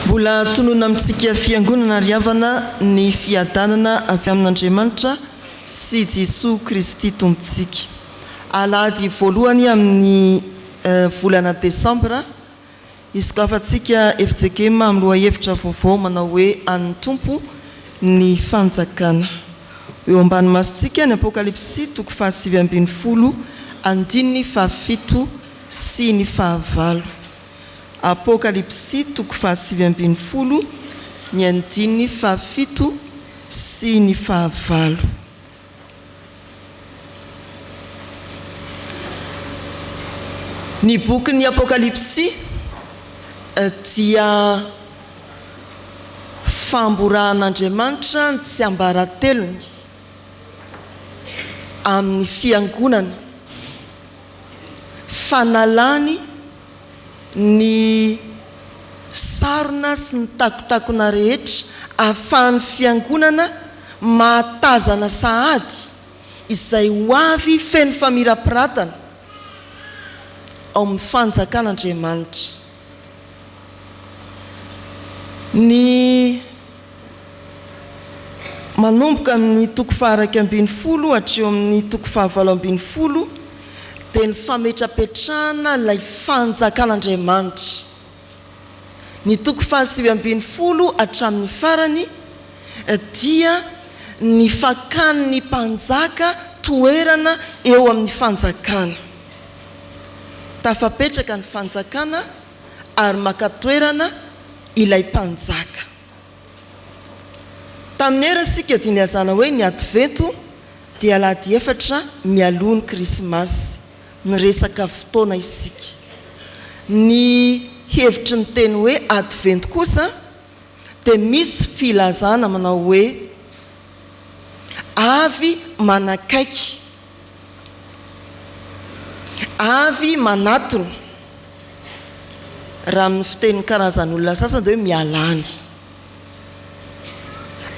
Mbola tononina amintsika Fiangonana ry havana ny fiadanana avy amin'Andriamanitra sy Jesoa Kristy Tompontsika. Alahady voalohany amin'ny volana Desambra, hisokafantsika FJKM amin'ny lohahevitra vaovao manao hoe An'ny Tompo ny Fanjakana. Ho eo ambany masontsika ny Apokalypsy toko fahasivy ambin'ny folo andininy fahafito. sy ny fahavalo. Apokalypsy toko fahasivy ambin'ny folo ny andininy fahafito sy ny fahavalo. Ny bokin'ny Apokalypsy dia famborahan'Andriamanitra ny tsiambaratelony amin'ny fiangonana. fanalany ny sarona sy ny takotakona rehetra ahafahan'ny Fiangonana mahatazana sahady izay ho avy feno famirapiratana ao amin'ny Fanjakan'Andriamanitra. Ny manomboka amin'ny toko faharaika ambin'ny folo hatreo amin'ny toko fahavalo ambin'ny folo dia ny fametrapetrahana ilay fanjakan'Andriamanitra. Ny toko fahasivy ambin'ny folo hatramin'ny farany dia ny fakan'ny mpanjaka toerana eo amin'ny fanjakana. Tafapetraka ny fanjakana ary maka toerana ilay mpanjaka. Tamin'ny era sika dia nilazana hoe ny Advento dia alahady efatra mialoha ny Krismasy. Niresaka fotoana isika. Ny hevitry ny teny hoe Advento kosa dia misy filazana manao hoe avy manakaiky. Avy manatona. Raha amin'ny fitenin'ny karazan'olona sasany dia hoe miala any.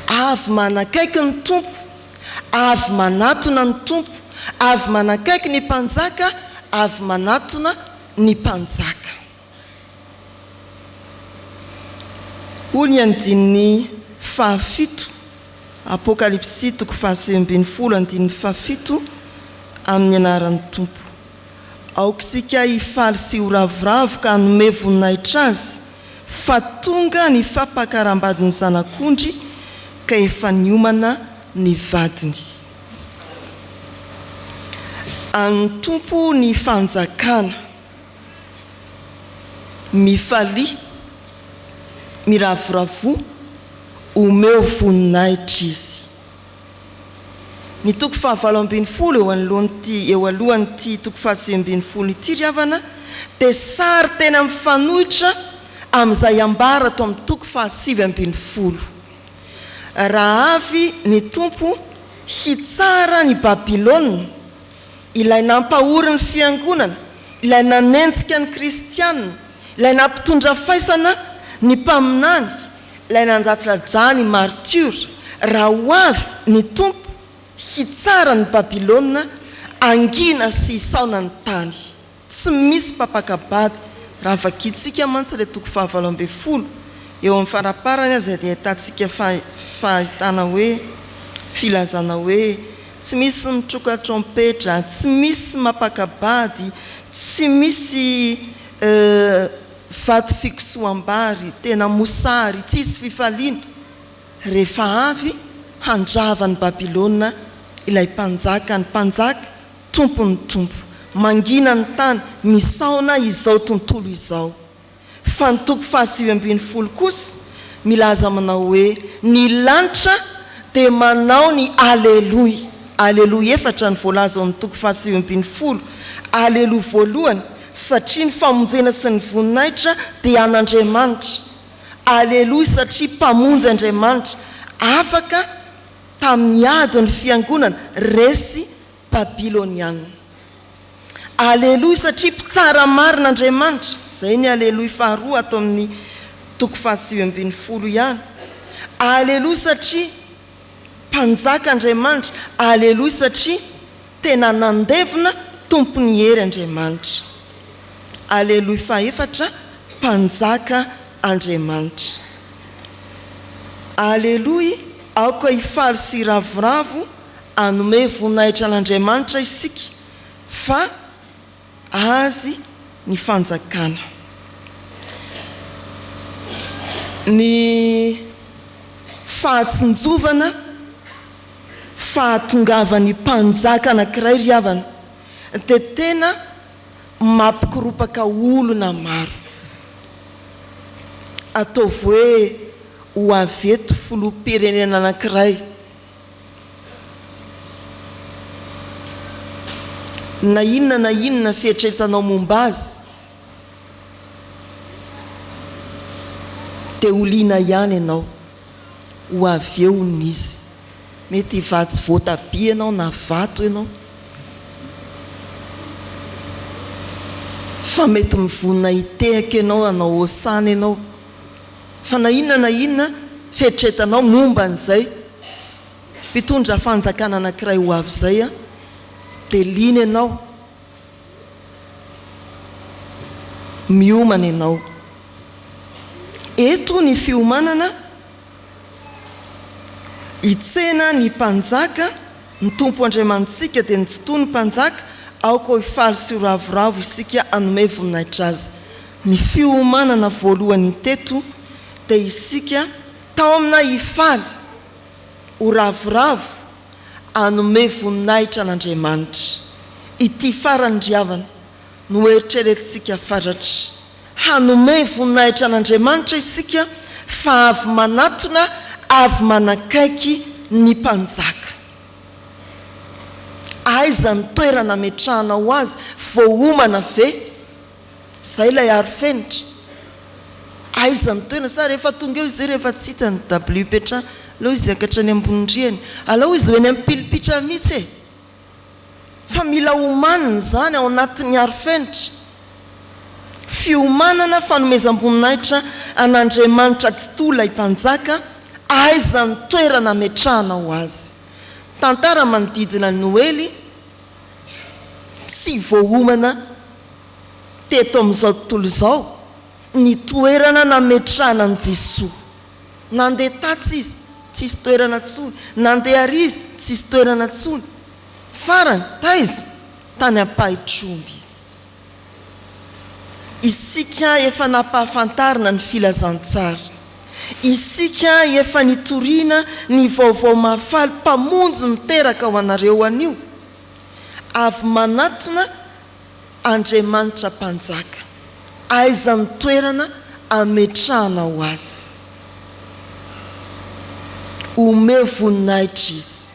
Avy manakaiky ny Tompo, avy manatona ny Tompo, avy manakaiky ny mpanjaka, avy manatona ny mpanjaka. Hoy ny andininy fahafito, Apokalypsy toko fahasivy ambin'ny folo andininy fahafito, Amin'ny anaran'ny Tompo. Aoka isika hifaly sy ho ravoravo ka hanome voninahitra Azy fa tonga ny fampakarambadin'ny Zanak'ondry ka efa niomana ny vadiny. An'ny Tompo ny fanjakana. Mifalia, miravoravoa, omeo voninahitra Izy. Ny toko fahavalo ambin'ny folo eo anoloan'ity eo alohan'ity toko fahasivy ambin'ny folo ity ry havana dia sary tena mifanohitra amin'izay ambara ato amin'ny toko fahasivy ambin'ny folo. Raha avy ny Tompo hitsara an'i Babylona, Ilay nampahory ny Fiangonana, Ilay nanenjika ny Kristianina, Ilay nampitondra faisana ny Mpaminany, Ilay nanjatradra ny martiora, raha ho avy ny Tompo hitsara ny Babylona hangina sy hisaona ny tany. Tsy misy mpapaka bado raha vakintsika mantsy ilay toko fahavalo ambin'ny folo, eo amin'ny faraparany aza dia ahitantsika fahitana hoe, filazana hoe, tsy misy mitroka trompetra, tsy misy mampaka bady, tsy misy vato fikosoham-bary, tena mosary, tsisy fifaliana, rehefa avy handrava an'i Babylona ilay mpanjakan'ny mpanjaka. Tompo ny Tompo, mangina ny tany, misaona izao tontolo izao. Fa ny toko fahasivy ambin'ny folo kosa milaza aminao hoe, Ny lanitra dia manao ny Aleloy. Aleloy efatra no voalaza ao amin'ny toko fahasivy ambin'ny folo. Aleloy voalohany, satria ny famonjena sy ny voninahitra dia an'Andriamanitra. Aleloy satria Mpamonjy Andriamanitra, afaka tamin'ny ady ny fiangonana, resy Babylonianina. Aleloia satria mpitsara marina Andriamanitra, izay ny Aleloia faharoa ato amin'ny toko fahasivy ambin'ny folo ihany. Aleloia satria Mpanjaka Andriamanitra, Aleloia satria tena nandevina Tompon'ny hery Andriamanitra. Aleloia fahefatra Mpanjaka Andriamanitra. Aleloia, aoka hifaly sy hiravoravo hanome voninahitra an'Andriamanitra isika fa Azy ny fanjakana. Ny fahatsinjovana, fahatongavan'ny mpanjaka anankiray ry havana dia tena mampikoropaka olona maro. Ataovy hoe ho avy eto filoham-pirenena anankiray. Na inona na inona fieritreretanao momba azy dia ho liana ihany ianao, ho avy eo hono izy. Mety hivatsy voatabia ianao na vato ianao, fa mety mivonona hitehaka ianao, hanao hosana ianao. fa na inona na inona fieritreretanao momba an'izay mpitondra fanjakana anankiray ho avy izay, dia liana ianao, miomana ianao. Eto ny fiomanana hitsena ny Mpanjaka, ny Tompo Andriamanitsika dia ny Tsitoha ny Mpanjaka, aoka ho faly sy ho ravoravo isika hanome voninahitra Azy. Ny fiomanana voalohany teto dia isika taomina hifaly, ho ravoravo, hanome voninahitra an'Andriamanitra. Ity farany ry havana no eritreretintsika fatratra. Hanome voninahitra an'Andriamanitra isika fa avy manatona, avy manakaiky ny Mpanjaka. Aiza ny toerana ametrahanao Azy? Voaomana ve? Zay ilay aro fenitra. Aiza ny toerana? Sa rehefa tonga eo izay rehefa tsy hita ny WP trano aleo izy hiakatra any ambony rihana. Aleo izy ho eny amin'ny pilipitra mihitsy e! Fa mila omanina izany ao anatin'ny aro fenitra. Fiomanana, fanomezam-boninahitra an'Andriamanitra Tsitoha ilay Mpanjaka, aiza ny toerana ametrahanao Azy? Tantara manodidina ny Noely tsy voaomana. teto amin'izao tontolo izao ny toerana nametrahana an'i Jesoa. Nandeha tatsy Izy, tsisy toerana tsony, nandeha ary Izy, tsisy toerana tsony. Farany, taiza? Tany Ampahitromby Izy. Isika efa nampahafantarina ny Filazantsara. Isika efa nitoriana ny Vaovao Mahafaly Mpamonjy niteraka ho anareo anio. Avy manatona Andriamanitra Mpanjaka, aiza ny toerana ametrahanao Azy? Omeo voninahitra Izy.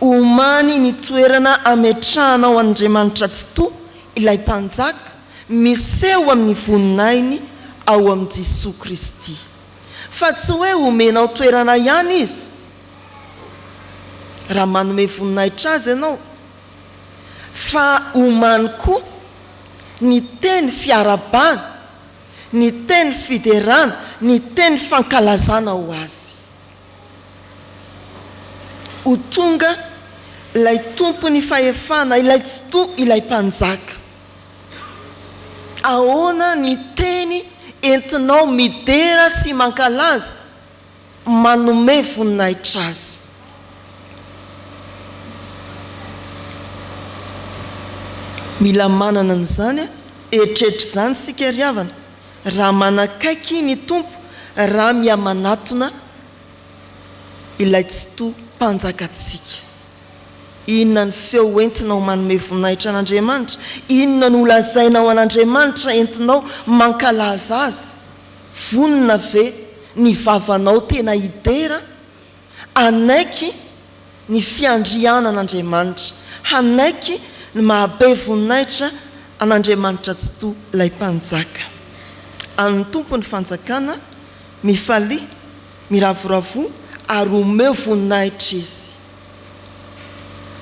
Omany ny toerana ametrahanao an'Andriamanitra Tsitoha, ilay Mpanjaka, miseho amin'ny voninahiny ao amin'i Jesoa Kristy. Fa tsy hoe omenao toerana ihany Izy. Raha manome voninahitra Azy ianao, fa omany koa ny teny fiarabana, ny teny fiderana, ny teny fankalazana ho azy. Ho tonga ilay Tompon'ny fahefana, ilay Tsitoha, ilay Mpanjaka. Ahoana ny teny entinao midera sy mankalaza manome voninahitra azy. Mila manana an'izany eritreritra izany isika ry havana, raha manakaiky ny Tompo, raha mihamanatona Ilay Tsitoha Mpanjakantsika. Inona ny feo hoentinao manome voninahitra an'Andriamanitra? Inona no holazainao an'Andriamanitra entinao mankalaza Azy? Vonona ve ny vavanao tena hidera? Hanaiky ny fiandrianan'Andriamanitra, hanaiky ny mahabe voninahitra an'Andriamanitra Tsitoha, ilay Mpanjaka. An'ny Tompo ny fanjakana, mifalia, miravoravoa, ary omeo voninahitra Izy.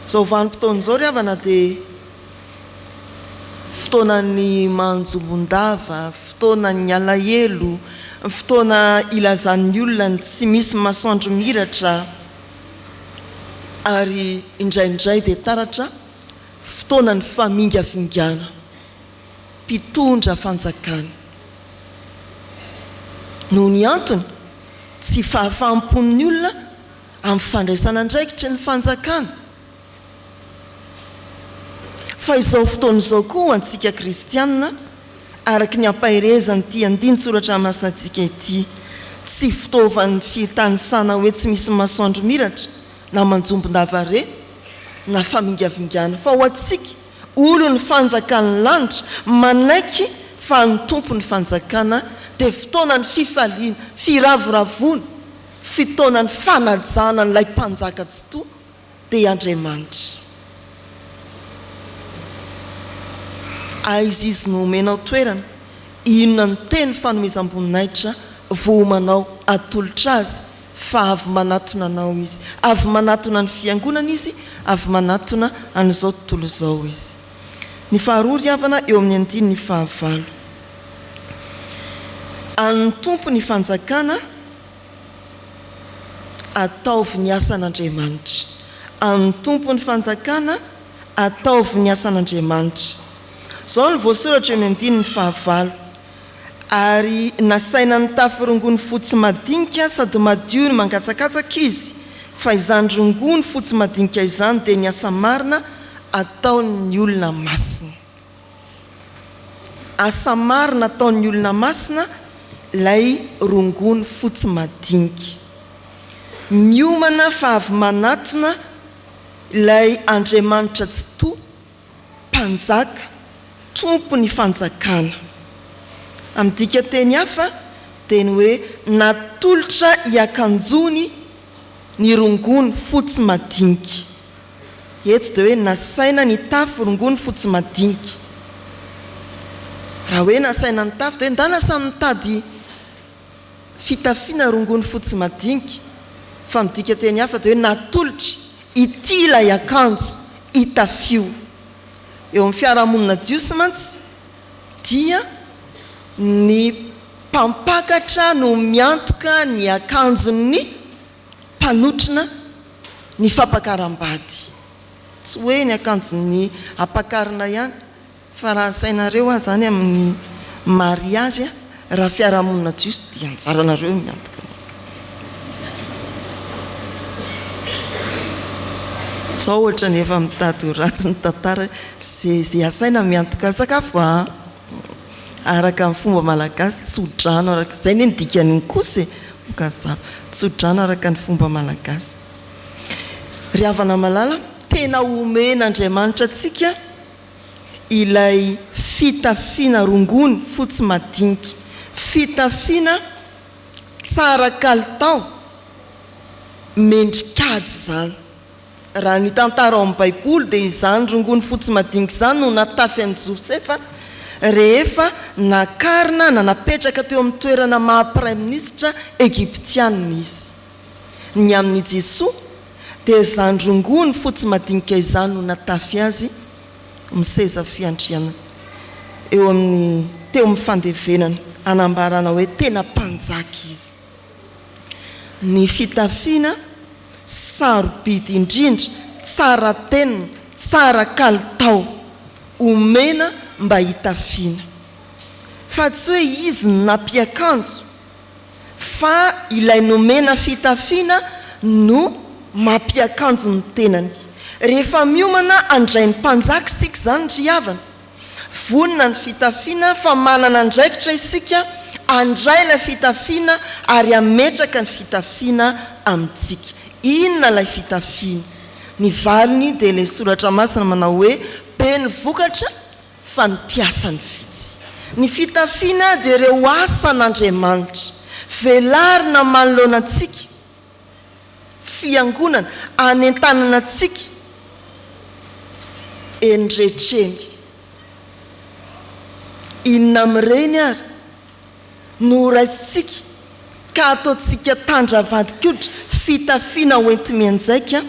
Izao vanim-potoana izao ry havana dia fotoanan'ny manjombon-dava, fotoanan'ny alahelo, fotoana ilazan'ny olona ny tsy misy masoandro miratra ary indraindray dia taratra, fotoanan'ny famingavingana mpitondra fanjakana. Noho ny antony tsy fahafaham-pon'ny olona, amin'ny fandraisana andraikitry ny fanjakana. Fa izao fotoana izao koa ho antsika kristianina, araka ny ampaherezan'ity andinin-tsoratra masinantsika ity, tsy fitaovan'ny fitanisana hoe tsy misy masoandro miratra na manjombon-dava re na famingavingana, fa ho antsika olon'ny fanjakan'ny lanitra manaiky fa ny tompon'ny fanjakana dia fotoanan'ny fifaliana, firavoravoana, Fotoanan'ny fanajana an'ilay Mpanjaka Tsitoha dia Andriamanitra. Aiza Izy no homenao toerana? Inona no teny fanomezam-boninahitra vohomanao atolotra Azy? Fa avy manatona anao Izy. Avy manatona ny Fiangonana Izy, avy manatona an'izao tontolo izao Izy. Ny faharoa ry havana eo amin'ny andininy fahavalo. An'ny Tompo ny fanjakana, ataovy ny asan'Andriamanitra. An'ny Tompo ny fanjakana, ataovy ny asan'Andriamanitra. Izao no voasoratra eo amin'ny andininy fahavalo. ary nasaina nitafy rongony fotsy madinika sady madio ny mangatsakatsaka izy fa izany rongony fotsy madinika izany dia ny asa marina ataon'ny olona masina. Asa marina ataon'ny olona masina ilay rongony fotsy madinika. Miomana fa avy manatona ilay Andriamanitra Tsitoha Mpanjaka, Tompon'ny fanjakana. Amin'ny dikan-teny hafa dia ny hoe natolotra hiakanjoany ny rongony fotsy madinika. Eto dia hoe nasaina nitafy rongony fotsy madinika. Raha hoe nasaina nitafy dia hoe ndana samy nitady. fitafiana rongony fotsy madinika, fa midika teny hafa dia hoe natolotry, ity ilay akanjo itafio. Eo amin'ny fiarahamonina jiosy mantsy dia ny mpampakatra no miantoka ny akanjon'ny mpanotrona ny fampakaram-bady, tsy hoe ny akanjon'ny ampakarina ihany. Fa raha asainareo ahy zany amin'ny mariage raha fiarahamonina jiosy dia anjaranareo eo miantoka ny ankamaroany. Zao ohatrany efa mitady ho ratsy ny tantara ze ze asaina miantoka sakafo a! Araka ny fomba malagasy tso-drano araka zay ne ny dikan'iny kosa e! Mokazava. Tso-drano araka ny fomba malagasy. Ry havana malala, tena omen'Andriamanitra antsika. ilay fitafiana rongony fotsy madinika, fitafiana tsara kalitao, mendrik'ady izany. Raha ny tantara ao amin'ny Baiboly dia izany rongony fotsy madinika izany no natafy an'i Josefa rehefa nakarina na napetraka teo amin'ny toerana maha-praiminisitra egiptianina izy. Ny amin' i Jesoa dia izany rongony fotsy madinika izany no natafy Azy amin'ny seza fiandrianana eo amin'ny teo amin'ny fandevenana hanambarana hoe tena mpanjaka Izy. Ny fitafiana sarobidy indrindra, tsara tenona, tsara kalitao, omena mba hitafiana. Fa tsy hoe Izy no nampiakanjo. fa ilay nomena fitafiana no mampiakanjo ny tenany. Rehefa miomana handray ny mpanjaka isika izany ry havana, vonona ny fitafiana fa manana andraikitra isika handray ilay fitafiana ary hametraka ny fitafiana amintsika. Inona ilay fitafiana? Ny valiny dia ilay soratra masina manao hoe, Be ny vokatra fa ny mpiasany vitsy. Ny fitafiana dia ireo asan'Andriamanitra. Velarina manoloana antsika Fiangonana anentanana antsika eny rehetra eny. Inona amin'ireny ary? no horaisintsika ka hataontsika tandravandin-koditra fitafiana hoenti-mianjaika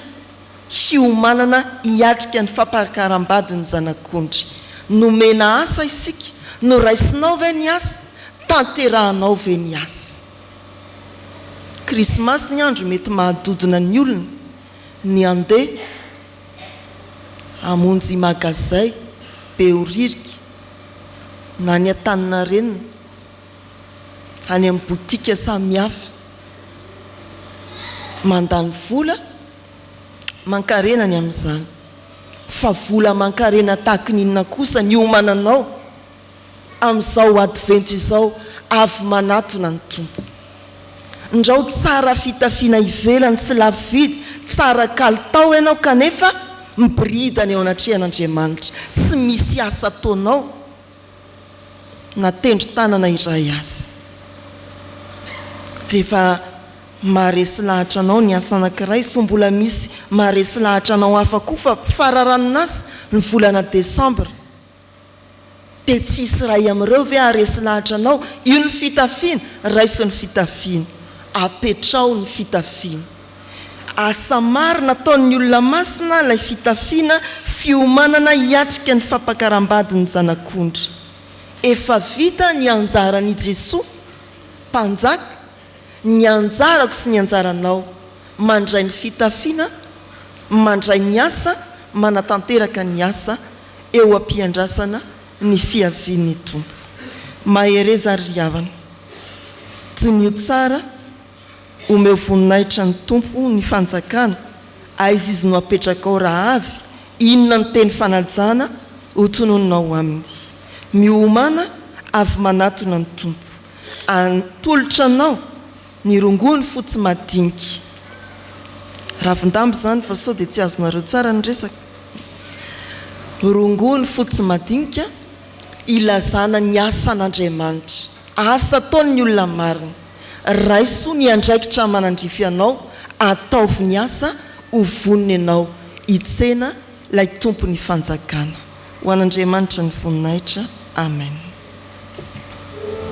hiomanana hiatrika ny fampakaram-bady ny Zanak'ondry. Nomena asa isika, noraisinao ve ny asa? Tanterahanao ve ny asa? Krismasy ny andro mety mahadodona ny olona ny handeha. hamonjy magazay, Behoririka na ny Antaninarenina any amin'ny botika samihafa. Mandany vola aman-karena ny amin'izany fa vola aman-karena tahaka ny inona kosa ny hiomananao? amin'izao Advento izao avy manatona ny Tompo. Ndrao tsara fitafiana ivelany sy lafo vidy, tsara kalitao ianao kanefa miboridana eo anatrehan'Andriamanitra, tsy misy asa ataonao na tendron-tanana iray aza. Rehefa maharesy lahatra anao ny asa anankiray sao mbola misy maharesy lahatra anao hafa koa fa fararanin'asa ny volana desambra, Dia tsy hisy iray amin'ireo ve haharesy lahatra anao? Io ny fitafiana, raiso ny fitafiana. Apetraho ny fitafiana. Asa maro nataon'ny olona masina ilay fitafiana, fiomanana hiatrika ny fampakaram-badin'ny Zanak'ondry. Efa vita ny anjaran' i Jesoa, Mpanjaka, ny anjarako sy ny anjaranao. Mandray ny fitafiana, mandray ny asa, manatanteraka ny asa, eo am-piandrasana ny fiavian'ny Tompo. Mahereza ry havana. Diniho tsara, omeo voninahitra ny Tompo ny fanjakana, aiza izy no apetrakao raha avy, inona ny teny fanajana ho tononinao aminy. Miomana avy manatona ny Tompo. An, tolotra anao. Ny rongony fotsy madinika. Ravin-damba izany fa sao dia tsy azonareo tsara ny resaka. Rongony fotsy madinika ilazana ny asan'Andriamanitra, asa ataon'ny olona marina. Raiso ny andraikitra manandrify anao, ataovy ny asa ho vonona ianao hitsena ilay Tompon'ny fanjakana. Ho an'Andriamanitra ny voninahitra. Amen.